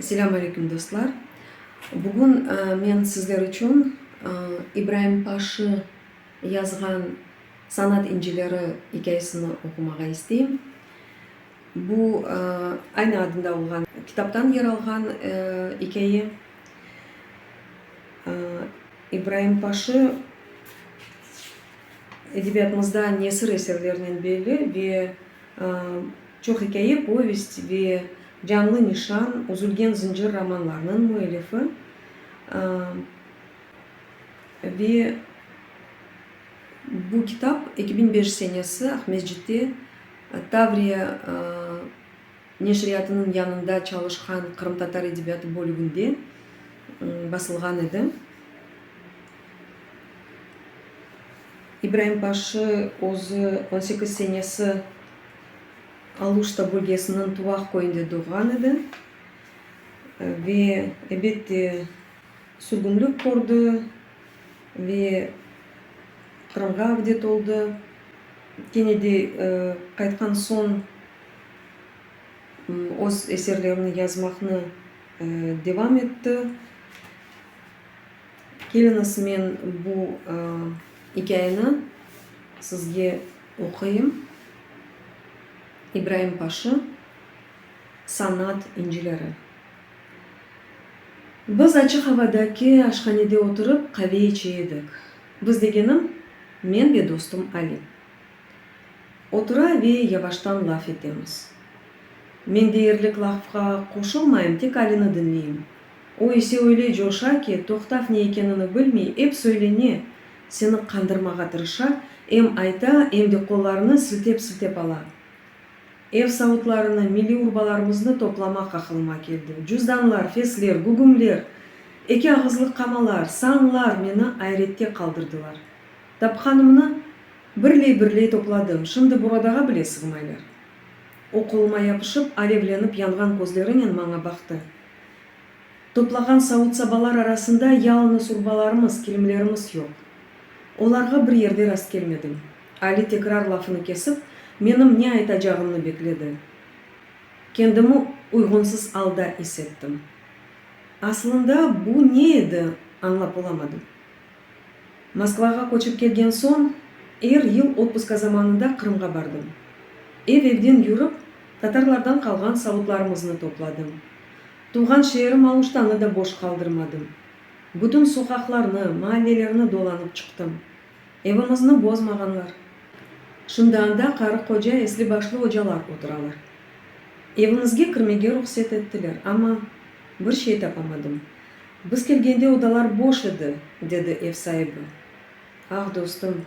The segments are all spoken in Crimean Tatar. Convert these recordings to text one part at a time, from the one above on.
Selam aleyküm dostlar. Bugün men sizler içün İbraim Paşı yazğan Sanat incileri ikâyesini oqumağa isteyim. Bu, aynı adında olğan kitaptan yer alğan ikâye. İbraim Paşı edebiyatımızda nesir eserlerinen belli ve çoq ikâye, povest ve Canlı nişan, Üzülgen zıncır romanlarınıñ müellifi ve bu kitap eki biñ beş senesi Aqmescitte Tavriya neşriyatınıñ yanında çalışqan qırımtatar edebiyatı bölüginde basılğan edi. İbraim Paşı özü on sekiz senesi Aluşta bölgesiniñ Tuvaq köyünde doğğan edi ve, ebet de, sürgünlik kördi. ve Qırımğa avdet oldı. Kene de qaytqan soñ öz eserlerini yazmaqnı devam etti. Keliñiz, men bu ikâyeni sizge oquyım, İbraim Paşı. sanat incileri. Biz açıq avadaki aşhanede oturıp qave içe edik. Biz degenim, men ve dostum Ali. Otura ve yavaştan laf etemiz. Men deyerlik lafqa qoşulmayım, tek Alini diñleyim. O ise öyle coşa ki, toqtav ne ekenini bilmey, ep söylene, seni qandırmağa tırışa, em ayta, em de qollarını siltep-siltep ala. Ev savutlarını, milliy urbalarımıznı toplamaq aqılıma keldi. Cüzdanlar, fesler, gügümler, eki ağızlıq qamalar, sanlar meni ayrette qaldırdılar. Tapqanımnı birley-birley topladım, şimdi buradağa bile sığmaylar. O qoluma yapışıp, alevlenip yanğan közlerinen maña baqtı. Toplağan savut-sabalar arasında yalıñız urbalarımız, kilimlerimiz yoq. Olarğa bir yerde rastkelmedim. Ali tekrar lafını kesip, menim ne aytacağımnı bekledi. Kendimi uyğunsız alda is ettim. Aslında bu ne edi, añlap olamadım. Moskvağa köçip kelgen soñ, er yıl otpuska zamanında Qırımğa bardım. Ev-evden yürip, tatarlardan qalğan savutlarımıznı topladım. Tuvğan şeerim Aluştanı da boş qaldırmadım. Bütün soqaqlarnı, maallelerni dolanıp çıqtım. Evimizni bozmağanlar. Şimdi anda qarı-qoca, esli-başlı ocalar oturalar. Evimizge kirmege ruhset ettiler, amma bir şey tapamadım. Biz kelgende odalar boş edi, dedi ev saibi. Ah, dostum,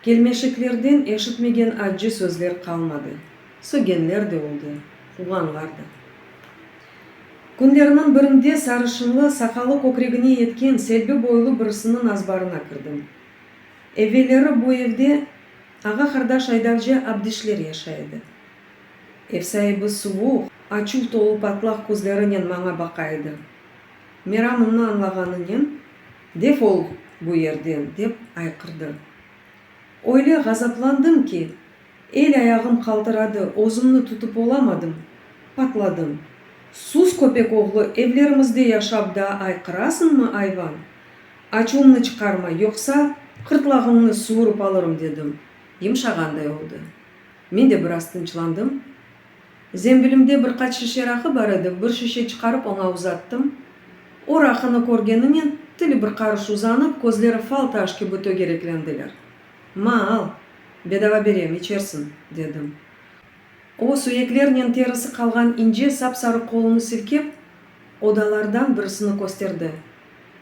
kelmeşeklerden eşitmegen accı sözler qalmadı. Sögenler de oldı, quğanlar da. Künlerniñ birinde sarışınlı, saqalı kökregine yetken Selbi boylu birisiniñ nazbarına kirdim. Evelleri bu evde ağa-qardaş aydavcı Abdişler yaşay edi. Ev saibi suvuq, açuv tolu patlaq közlerinen maña baqa edi. Meramımnı añlağanınen, Defol bu yerden! dep ayqırdı. Öyle ğazaplandım ki, El-ayağım qaltıradı, özümni tutıp olamadım, patladım. Sus, köpek oğlu, evlerimizde yaşap daa ayqırasıñmı, ayvan? Açuvımnı çıqarma, yoqsa qırtlağıñnı suvurup alırım, dedim. Yımşağanday oldı. Men de biraz tınçlandım. Zembilimde bir qaç şişe raqı bar edi, bir şişe çıqarıp oña uzattım. O, raqını körgeninen, tili bir qarış uzanıp, közleri fal taş kibi tögereklendiler. Ma, al, bedava berem, içersiñ, dedim. O, suyeklernen terisi qalğan ince sap-sarı qolunı silkep, odalardan birisini kösterdi.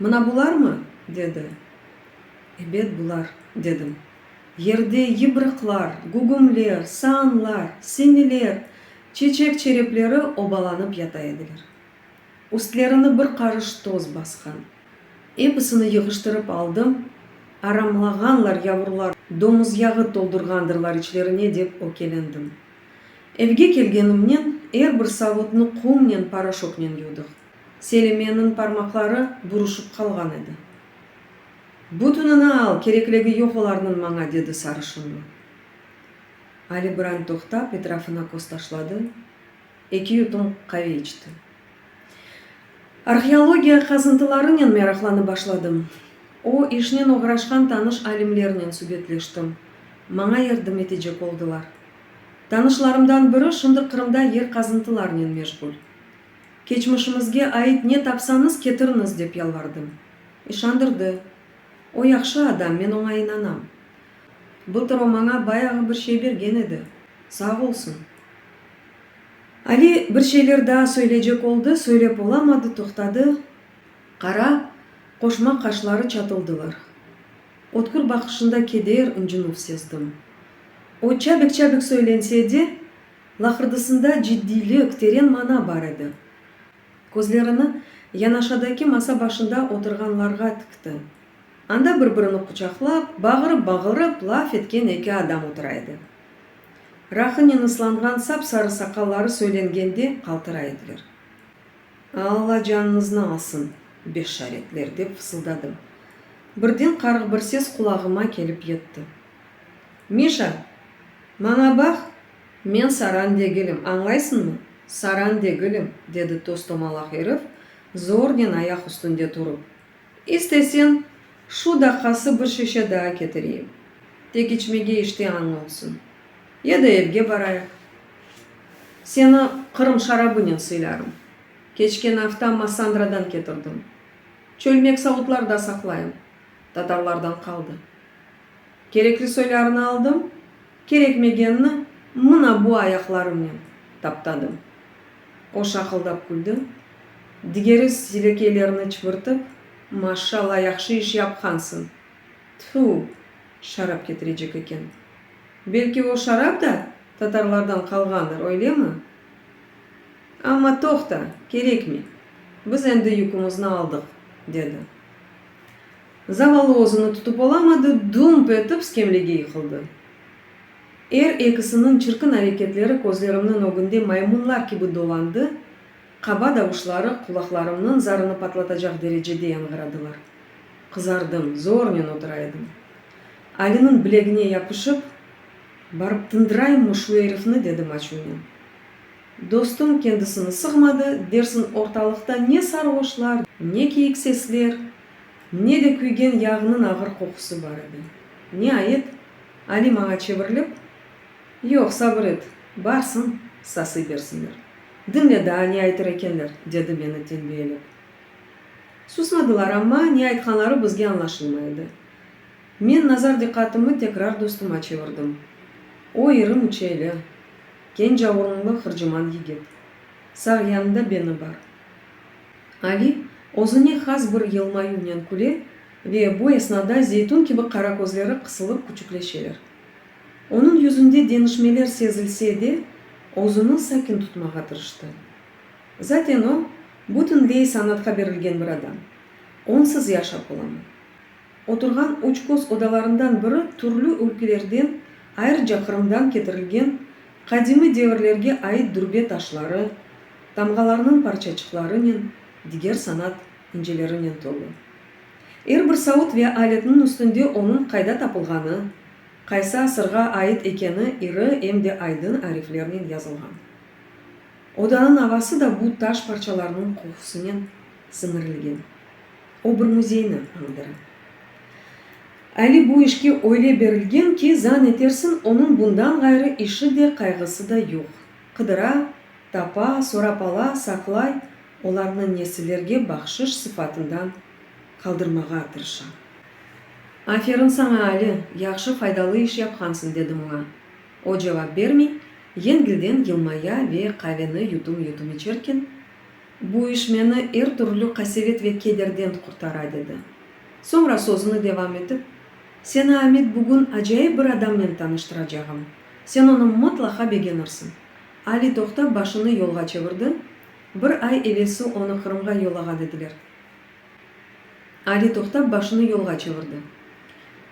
Mına bularmı? dedi. Ebet, bular, dedim. Yerde yıbrıqlar, gugumler, saanlar, semiler, çeçek çerepleri obalanıp yata ediler. Üstlerini bir qarış toz basqan. Episini yığıştırıp aldım, aramlağanlar yavrular, domuz yağı toldurğandırlar içlerine dep ökelendim. Evge kelgenimnen er bir savutnı qumnen, poroşoknen yuvdıq. Selimeniñ parmaqları buruşıp qalğan edi. Bütünini al, kerekligi yoq olarnıñ maña, dedi sarışınlı. Ali biran toqtap, etrafına köz taşladı. Eki yutum qave içti. Arheologiya qazıntılarınen meraqlanıp başladım. O işnen oğraşqan tanış alimlernen subetleştim, maña yardım etecek oldılar. Tanışlarımdan biri şimdi Qırımda yer qazıntılarınen meşğul. Keçmişimizge ait ne tapsañız ketiriñiz dep yalvardım. İşandırdı. O yahşı adam, men oña inanam. Bu tur o maña bayağı bir şey bergen edi, sağ olsun. Ali bir şeyler daa söyleycek oldı, söylep olamadı, toqtadı, qara, qoşma qaşları çatıldılar. Ötkür baqışında keder, ıncınuv sezdim. O çabik-çabik söylense de, laqırdısında ciddiylik, teren mana bar edi. Közlerini yanaşadaki masa başında oturğanlarğa tikti. Anda bir-birini quçaqlap, bağırıp-bağırıp laf etken eki adam otura edi. Rahınen ıslanğan sap-sarı saqalları söylengende qaltıra ediler. Alla canınıznı alsın, beşşaretler! dep fısıldadım. Birden qarıq bir ses qulağıma kelip yetti. Mişa! Maña baq! Men saran degilim, añlaysıñmı? Saran degilim! dedi toz-tomalaq erif, zornen ayaq üstünde turıp. İsteseñ, şu daqqası bir şişe daa ketireyim, tek içmege iştiañ olsun. Ya da evge barayıq. Seni Qırım şarabınen sıylarım. Keçken afta Massandradan ketirdim. Çölmek savutlarda saqlayım, tatarlardan qaldı. Kerekli soylarını aldım. Kerekmegenni mına bu ayaqlarımnen taptadım. O şaqıldap küldi, digeri silekeylerini çıbırtıp, Maşşalla, yahşı iş yapqansıñ. Tfu, şarap ketirecek eken. Belki o şarap da tatarlardan qalğandır, öylemi? Amma toqta, kerekmey, biz endi yükümüzni aldıq, dedi. Zavallı özüni tutıp olamadı, dump etip skemlege yıqıldı. Er ekisiniñ çirkin areketleri közlerimniñ ögünde maymunlar kibi dolandı, qaba davuşları qulaqlarımnıñ zarını patlatacaq derecede yañğıradılar. Qızardım, zornen otura edim. Aliniñ bilegine yapışıp, Barıp tındırayımmı şu erifni? dedim açuvnen. Dostum kendisini sığmadı, dersiñ ortalıqta ne sarğoşlar, ne kiyik sesler. Ne de küygen yağnıñ ağır qoqusı bar edi. Niayet, Ali maña çevirilip, Yoq, sabır et, barsıñ, sasıy bersinler. Diñle daa, ne aytır ekenler, dedi meni tenbiyelep. Susmadılar, amma ne aytqanları bizge añlaşılmay edi. Men nazar diqqatımı tekrar dostuma çevirdim. O, iri müçeyli, kenca urunlı hırcıman yigit. Sağ yanında beni bar. Ali, özüne has bir yılmayuvnen küle ve bu esnada zeytun kibi qara közleri qısılıp küçükleşeler. Onıñ yüzünde deñişmeler sezilse de, özüni sakin tutmağa tırıştı. Zaten o, bütünley sanatqa berilgen bir adam. Onsız yaşap olamı? Oturğan üç köz odalarından biri türlü ülkelerden, ayrıca Qırımdan ketirilgen qadimiy devirlerge ait dürbe taşları, tamğalarnıñ parçaçıqlarınen, diger sanat incelerinen tolu. Er bir savut ve aletniñ üstünde onıñ qayda tapılğanı, qaysı asırğa ait ekeni iri em de aydın ariflernen yazılğan. Odanıñ avası da bu taş parçalarnıñ qohusınen siñirilgen. O bir müzeyni añdıra. Ali bu işke öyle berilgen ki, zan etersiñ, onıñ bundan ğayrı işi de, qayğısı da yoq. Qıdıra, tapa, sorap ala, saqlay, olarnı nesillerge bahşış sıfatından qaldırmağa tırışa. Aferin saña, Ali, yahşı, faydalı iş yapqansıñ, dedim oña. O cevap bermey, yengilden yılmaya ve qaveni yutum-yutum içerken, Bu iş meni er türlü qasevet ve kederden qurtara, dedi. Soñra sözüni devam etip, Seni, Amet, bugün acayip bir adamnen tanıştıracağım. Sen onı mıtlaqa begenirsiñ. Ali toqtap başını yolğa çevirdi, Bir ay evelsi onı Qırımğa yollağan ediler. Ali toqtap başını yolğa çevirdi.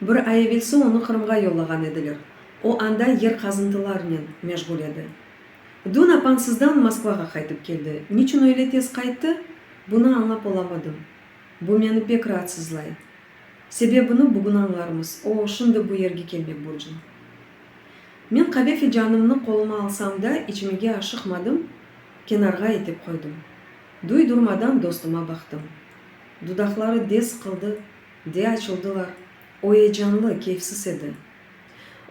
Bir ay evelsi onı Qırımğa yollağan ediler. O anda yer qazıntılarnen meşğul edi. Dün apansızdan Moskvağa qaytıp keldi. Niçün öyle tez qayttı, bunı añlap olamadım. Bu meni pek raatsızlay. Sebebini bugün añlarmız. O, şimdi bu yerge kelmek burcun. Men qave filcanımnı qoluma alsam da, içmege aşıqmadım, kenarğa itip qoydım. Duy durmadan dostuma baqtım. Dudaqları des qıldı, de açıldılar. O eyecanlı, keyfsiz edi.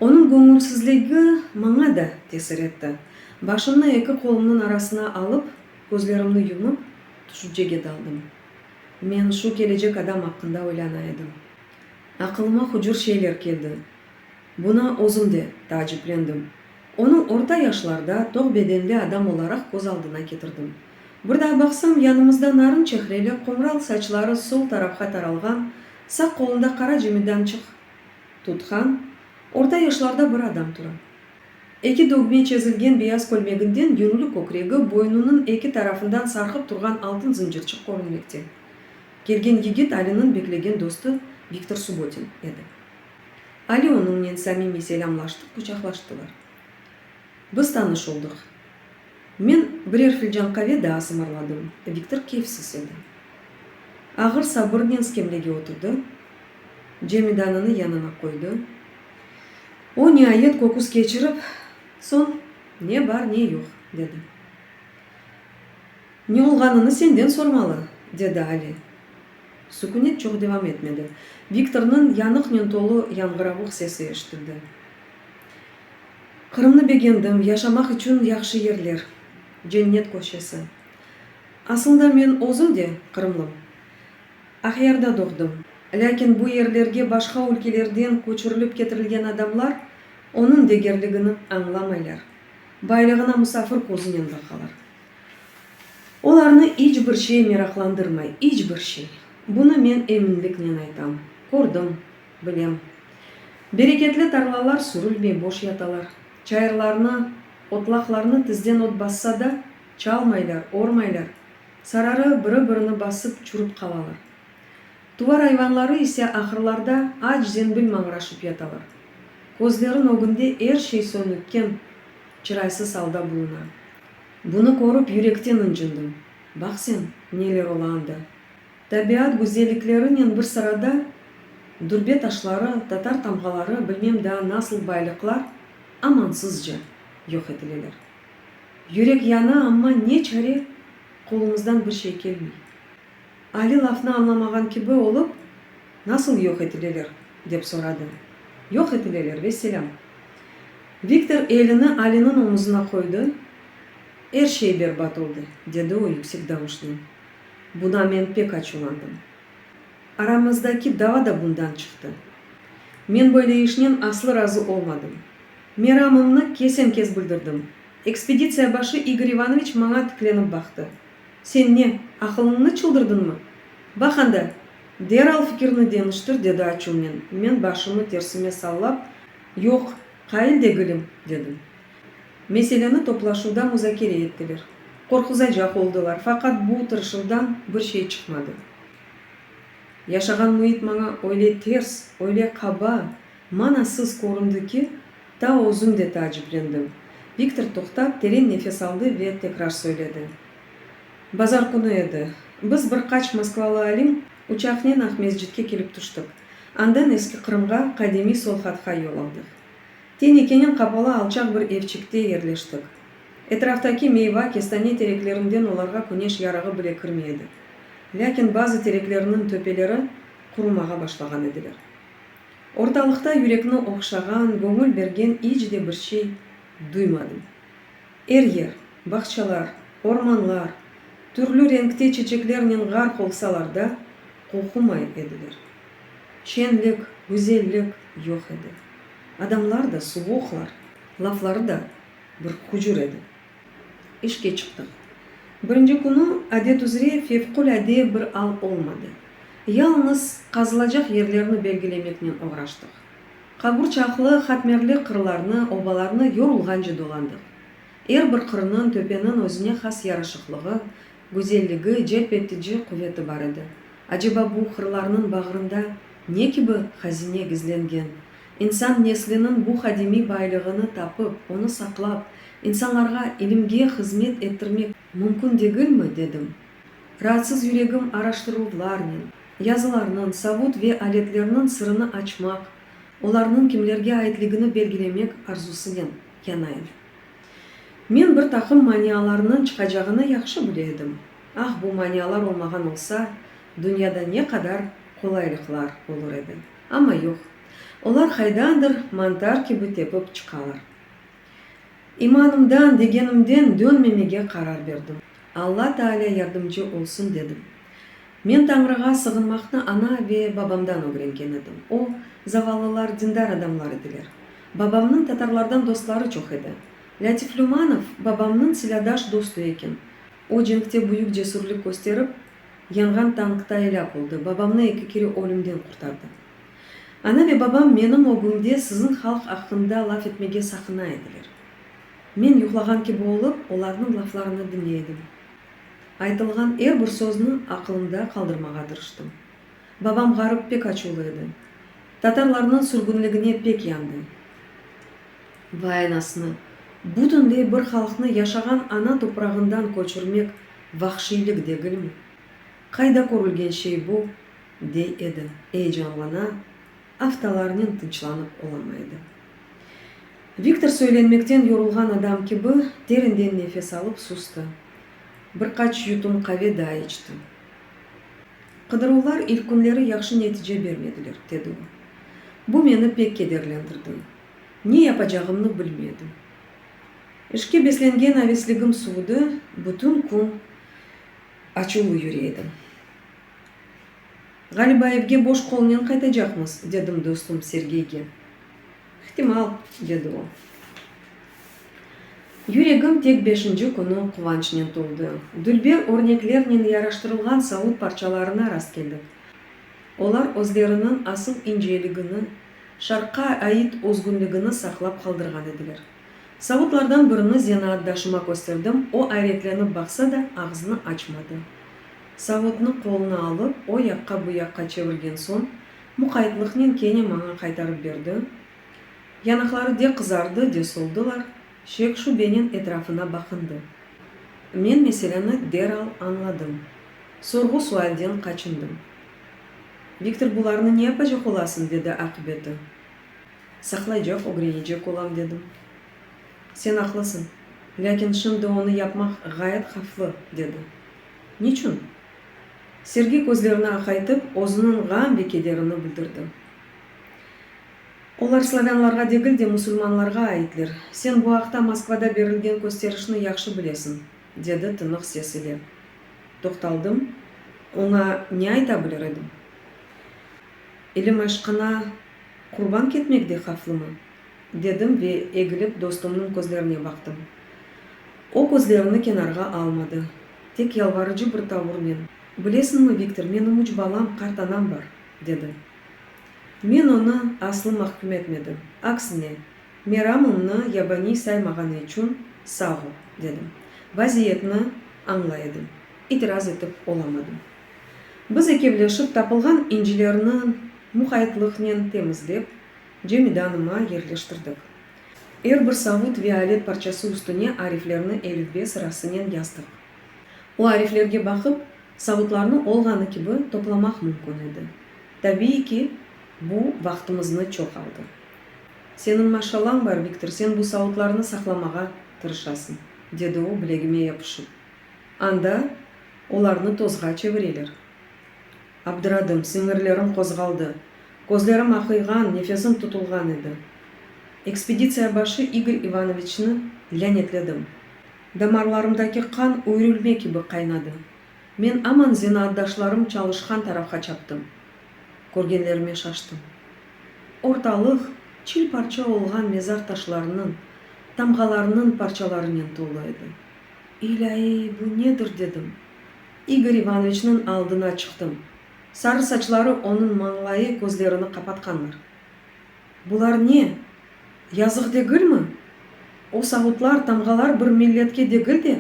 Onıñ göñülsizligi maña da tesir etti. Başımnı eki qolumnıñ arasına alıp, közlerimni yumıp, tüşüncege daldım. Men şu kelecek adam aqqında oylana edim. Aqılıma hucur şeyler keldi. Buna özüm de taaciplendim. Onı orta yaşlarda, toq bedenli adam olaraq köz aldına ketirdim. Bir daa baqsam, yanımızda narın çehreli, qumral saçları sol tarafqa taralğan, saq qolunda qara cimidançıq, Tutqan, orta yaşlarda bir adam tura. Eki dögme çezilgen beyaz kölmeginden yürüli kökregi, boynunıñ eki tarafından sarqıp turğan altın zıncırçıq körünmekte. Kelgen yigit Aliniñ beklegen dostu Viktor Subotin edi. Ali onıñnen samimiy selâmlaştı, quçaqlaştılar. Biz tanış oldıq. Men birer filcan qave daa sımırladım, Viktor keyfsiz edi. Ağır sabırnen skemlege oturdı. Cemidanını yanına qoydı. O, niayet köküs keçirip, soñ, Ne bar, ne yoq, dedi. Ne olğanını senden sormalı, dedi Ali. Sükünet çoq devam etmedi. Viktornıñ yanıqnen tolu yañğıravuq sesi eşitildi. Qırımnı begendim, yaşamaq içün yahşı yerler, Cennet köşesi. Asılda men özüm de qırımlım. Aqyarda doğdım. Lâkin bu yerlerge başqa ülkelerden köçürilip ketirilgen adamlar onıñ degerligini añlamaylar, baylığına musafir közünen baqalar. Olarnı iç bir şey meraqlandırmay, iç bir şey. Bunı men eminliknen aytam. Kördim, bilem. Bereketli tarlalar sürülmey, boş yatalar. Çayırlarnı, otlaqlarnı tizden ot bassa da, çalmaylar, ormaylar. Sararı biri-birini basıp çürip qalalar. Tuvar ayvanları ise ahırlarda aç zembil mañraşıp yatalar. Közlerin ögünde er şey sönükken, çıraysız alda buluna. Bunı körip yürekten ıncındım. Baq sen, neler ola anda! Tabiat güzelliklerinen bir sırada, dürbe taşları, tatar tamğaları, bilmem daa nasıl baylıqlar amansızca yoq etileler. Yürek yana, amma ne çare, qolumızdan bir şey kelmey. Ali lafnı añlamağan kibi olıp, Nasıl yoq etileler? dep soradı. Yoq etileler, vesselâm. Viktor elini Aliniñ omuzına qoydı, Er şey berbat oldı, dedi o yüksek davuşnen. Buna men pek açuvlandım. Aramızdaki dava da bundan çıqtı. Men böyle işnen aslı razı olmadım. Meramımnı kesen-kes bildirdim. Ekspeditsiya başı İgor İvanoviç maña tiklenip baqtı. Sen ne, aqılıñnı çıldırdınmı? Baq anda, deral fikirni deñiştir, dedi açuvnen. Men başımı tersime sallap, Yoq, qail degilim, dedim. Meseleni toplaşuvda muzakere ettiler. Qorquzacaq oldılar, faqat bu tırışuvdan bir şey çıqmadı. Yaşağan müit maña öyle ters, öyle qaba. Manasız köründi ki, ta özüm de taaciplendim. Viktor toqtap, teren nefes aldı ve tekrar söyledi. Bazar künü edi. Biz bir qaç moskvalı alim uçaqnen Aqmescitke kelip tüştik. Andan Eski Qırımğa, qadimiy Solhatqa yol aldıq. Tenekenen qapalı alçaq bir evçikte yerleştik. Etraftaki meyva, kestane tereklerinden olarğa küneş yarığı bile kirmey edi. Lâkin bazı tereklerniñ töpeleri qurumağa başlağan ediler. Ortalıqta yürekni oqşağan, göñül bergen iç de bir şey duymadım. Er yer, bağçalar, ormanlar, türlü renkte çeçeklernen ğarq olsalar da, qoqumay ediler. Şenlik, güzellik yoq edi. Adamlar da suvuqlar, lafları da bir hucur edi. İşke çıqtıq. Birinci künü, adet üzre, fevqulâde bir al olmadı. Yalıñız qazılacaq yerlerni belgilemeknen oğraştıq. Qaburçaqlı, hatmerli qırlarnı, obalarnı yorulğance dolandıq. Er bir qırnıñ, töpeniñ özüne has yaraşıqlığı, gözelligi, celp etici quveti bar edi. Aceba bu qırlarnıñ bağrında ne kibi hazine gizlengen? İnsan nesliniñ bu qadimiy baylığını tapıp, onı saqlap, insanlarğa ilimge hızmet ettirmek mümkün degilmi? dedim. Raatsız yüregim araştıruvlarnen, yazılarnıñ, savut ve aletlerniñ sırını açmaq, olarnıñ kimlerge aitligini belgilemek arzusınen yanayl. Men bir taqım manialarnıñ çıqacağını yahşı bile edim. Ah, bu manialar olmağan olsa, dünyada ne qadar qolaylıqlar olur edi! Amma yoq, olar qaydandır mantar kibi tepip çıqalar. İmanımdan, degenimden dönmemege qarar berdim. Alla Taalâ yardımcı olsun dedim. Men Tañrığa sığınmaqnı ana ve babamdan ögrengen edim. O, zavallılar dindar adamlar ediler. Babamnıñ tatarlardan dostları çoq edi. Lâtif Lümanov babamnıñ silâdaş dostu eken. O cenkte büyük cesürlik kösterip, Yanğan tankta elâk oldı. Babamnı eki kere ölümden qurtardı. Ana ve babam menim ögümde siziñ halq aqqında laf etmege saqına ediler. Men yuqlağan kibi olıp, olarnıñ laflarını diñley edim. Aytılğan er bir sözni aqılımda qaldırmağa tırıştım. Babam ğarıp pek açuvlı edi. Tatarlarnıñ sürgünligine pek yandı. Vay anasını! Bütünley bir halqnı yaşağan ana toprağından köçürmek Vahşiylik degilmi? Qayda körülgen şey bu? dey edi. Eyecanlana, aftalarnen tınçlanıp olamaydı. Viktor söylenmekten yorulğan adam kibi terinden nefes alıp sustı. Bir qaç yutum qave daa içti. Qıdıruvlar ilk künleri yahşı netice bermediler, dedi o. Bu meni pek kederlendirdi. Ne yapacağımnı bilmedim. İşke beslengen avesligim suvdı, bütün kün açuvlı yüre edim. Ğaliba evge boş qolnen qaytacaqmız, dedim dostum Sergeyge. İhtimal, dedi o. Yüregim tek beşinci künü quvançnen toldı. Dülber örneklernen yaraştırılğan saud parçalarına rastkeldik. Olar özleriniñ asıl inceligini, Şarqqa ait özgünligini saqlap qaldırğan ediler. Savutlardan birini zenaatdaşıma kösterdim, o ayretlenip baqsa da, ağzını açmadı. Savutnı qoluna alıp, o yaqqa, bu yaqqa çevirgen soñ, muqaytlıqnen kene maña qaytarıp berdi. Yanaqları de qızardı, de soldılar, şek-şübenen etrafına baqındı. Men meseleni deral añladım. Sorğu-sualden qaçındım. Viktor, bularnı ne yapacaq olasıñ? dedi aqibeti. Saqlaycaq, ögrenecek olam, dedim. Sen aqlısıñ, lâkin şimdi onı yapmaq ğayet havflı, dedi. Niçün? Sergey közlerini aqaytıp, özüniñ ğam ve kederini bildirdi. Olar slavânlarğa degil de, musulmanlarğa aitler. Sen bu aqta Moskvada berilgen kösterişni yahşı bilesiñ, dedi tınıq ses ile. Toqtaldım. Oña ne ayta bilir edim? İlim aşqına qurban ketmek de havflımı? dedim ve egilip dostumnıñ közlerine baqtım. O közlerini kenarğa almadı, tek yalvarıcı bir tavurnen, Bilesiñmi, Viktor, menim üç balam, qart anam bar, dedi. Men onı aslı mahküm etmedim, aksine, meramımnı yabaniy saymağanı içün sağ ol, dedim. Vaziyetni añlay edim, itiraz etip olamadım. Biz ekevleşip tapılğan incilerni muqaytlıqnen temizlep, camidanıma yerleştirdik. Er bir savut ve alet parçası üstüne ariflerni elifbe sırasınen yazdıq. O ariflerge baqıp, savutlarnı olğanı kibi toplamaq mümkün edi. Tabiiy ki, bu vaqtımıznı çoq aldı. Seniñ maşallañ bar, Viktor, sen bu savutlarnı saqlamağa tırışasıñ, dedi o, bilegime yapışıp. Anda olarnı tozğa çevireler. Abdıradım, siñirlerim qozğaldı, közlerim aqıyğan, nefesim tutulğan edi. Ekspeditsiya başı İgor İvanoviçni lânetledim. Damarlarımdaki qan üyrilme kibi qaynadı. Men aman zenaatdaşlarım çalışqan tarafqa çaptım. Körgenlerime şaştım. Ortalıq çil-parça olğan mezar taşlarınıñ, tamğalarınıñ parçalarınen tolu edi. İlâiy, bu nedir? dedim. İgor İvanoviçniñ aldına çıqtım. Sarı saçları, onıñ mañlayı közlerini qapatqanlar. Bular ne? Yazıq degilmi? O savutlar, tamğalar bir milletke degil de,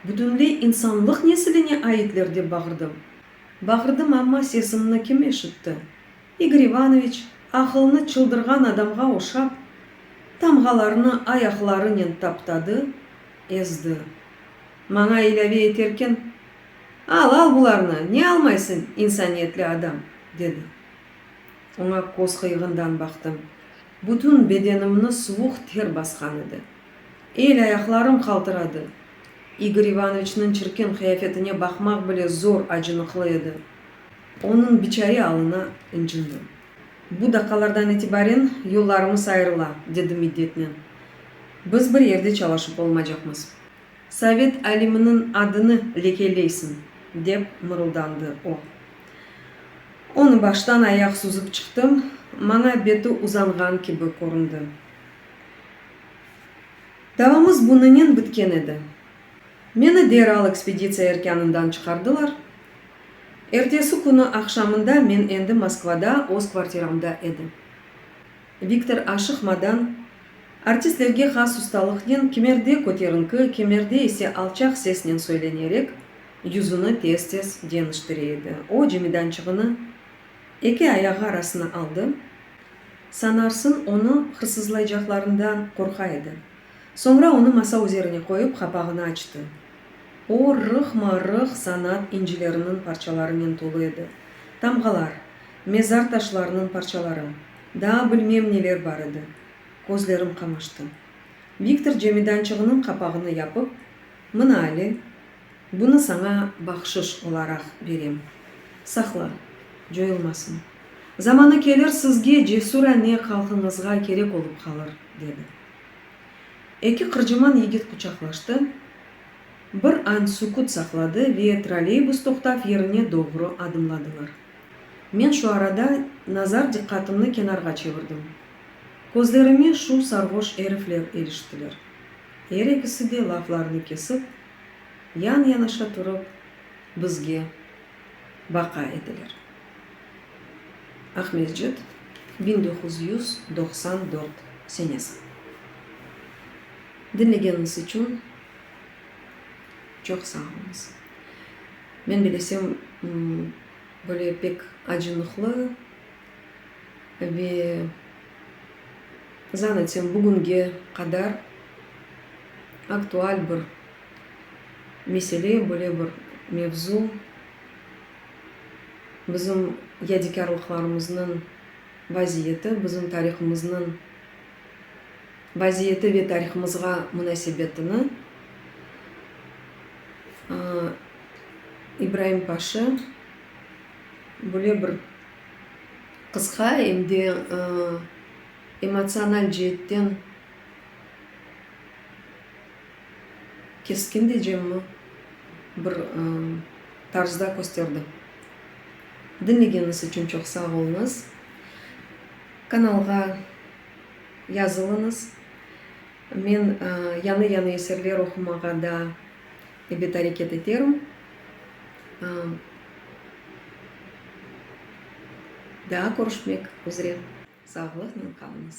bütünley insanlıq nesiline aitler, dep bağırdım. Bağırdım, amma sesimni kim eşitti? İgor İvanoviç, aqılını çıldırğan adamğa oşap, tamğalarnı ayaqlarınen taptadı, ezdi. Maña ilâve eterken, Al, al bularnı, ne almaysıñ, insaniyetli adam! dedi. Oña köz qıyığından baqtım. Bütün bedenimni suvuq ter basqan edi. El-ayaqlarım qaltıradı. İgor İvanoviçniñ çirkin qıyafetine baqmaq bile zor acınıqlı edi. Onıñ biçare alına incindi. Bu daqalardan itibaren yollarımız ayırıla, dedi middetnen. Biz bir yerde çalışıp olmacaqmız. Sovet aliminiñ adını lekeleysiñ, dep mırıldandı o. Onı baştan ayaq suzıp çıqtım, maña beti uzanğan kibi köründi. Davamız bunınen bitken edi. Meni deral ekspeditsiya erkânından çıqardılar, Ertesi künü aqşamında men endi Moskvada öz kvartiramda edim. Viktor aşıqmadan, artistlerge has ustalıqnen kimerde köterinki, kimerde ise alçaq sesnen söylenerek, yüzüni tez-tez ceniştire edi. O, cemidançığını eki ayağı arasına aldı, sanarsıñ, onı hırsızlaycaqlarından qorqa edi. Soñra onı masa üzerine qoyıp, qapağını açtı. O, rıhma-rıh sanat incileriniñ parçalarınen tolu edi, tamğalar, mezar taşlarınıñ parçaları, daa bilmem neler bar edi. Közlerim qamaştı. Viktor cemidançığınıñ qapağını yapıp, Mına ali, bunı saña bahşış olaraq berem. Saqla, coyulmasın. Zamanı kelir, sizge, cesur ane qalqıñızğa kerek olıp qalır, dedi. Eki qırcıman yigit quçaqlaştı, bir an sükut saqladı ve trolleybus toqtav yerine doğru adımladılar. Men şu arada nazar diqqatımnı kenarğa çevirdim. Közlerime şu sarhoş erifler iliştiler. Er ekisi de laflarını kesip, yan-yanaşa turıp, bizge baka ediler. Aqmescit, biñ doquz yüz doqsan dört senesi. Diñlegeniniz içün çoq sağ oluñız. Men bilesem, böyle pek acınıqlı ve zan etsem, bugünge qadar aktual bir mesele, böyle bir mevzu. Bizim yadikârlıqlarımıznıñ vaziyeti, bizim tarihımıznıñ vaziyeti ve tarihımızğa munasebetini İbraim Paşa böyle bir qısqa, em de emotsional ceetten, Keskin diycemmi, bir tarzda kösterdi. Diñlegeñiz içün çoq sağ oluñız. Kanalğa yazılıñız. Men yañı-yañı eserler oqumağa da ebet areket eterim. Daa körüşmek üzre sağlıqnen qalıñız.